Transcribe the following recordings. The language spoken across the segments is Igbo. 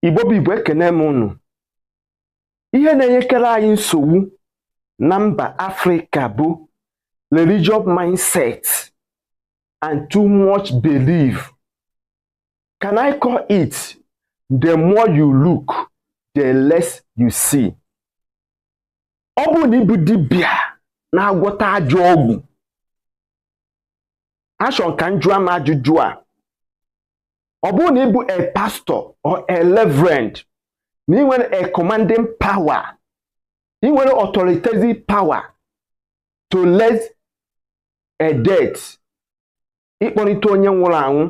igbo bụ igbo ekene m unu ihe na-enyekere anyị nsogbu na mba afrịka bụ religious mindset and too much belief can i call it the more you look the less you see ọ bụrụ na ị bụ dibịa na-agwọta ajọ ọgwụ achọrọ m ka m jụọ m ajụjụ a ọ bụrụ na ị bụ a pastor or a reverend na i nwere a commanding power i nwere authoritative power to raise a dead ịkpọlita onye nwụrụ anwụ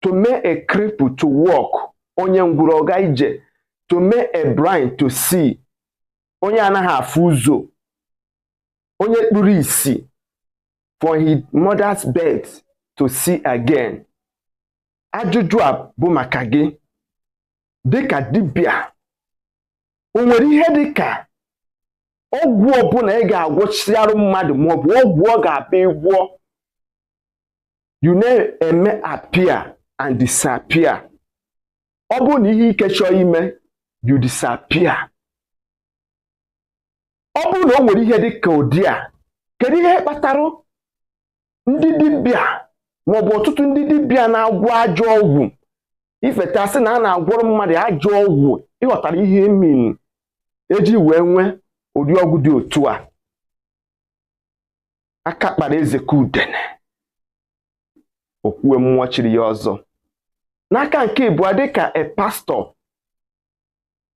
to make a cripple to walk onye ngwụrọ ọ ga ije to make a blind to see onye anaghị afụ ụzọ onye kpuru isi for his mother's birth to see again ajụjụ a bụ maka gị dịka dibịa o nwere ihe dịka ọgwụ ọbụla ị ga-agwọchiarụ mmadụ maọbụ ọgwụ ọ ga-abụ ị gwọọ you na-eme appear and disappear ọ bụrụ na ihe ike chọọ ime you disappear ọ bụrụ na o nwere ihe dị ka ụdị a kedu ihe kpatara ndị dibịa maọbụ ọtụtụ ndị dibịa na-agwọ ajọ ọgwụ if at all asị na a na-agwọrọ mmadụ ajọ ọgwụ ị ghọtara ihe I mean ejighi wee nwee ụdị ọgwụ dị otu a aka kpara eze ka udene okwue mmụọ chiri ya ọzọ n'aka nke ịbụọ dịka a pastor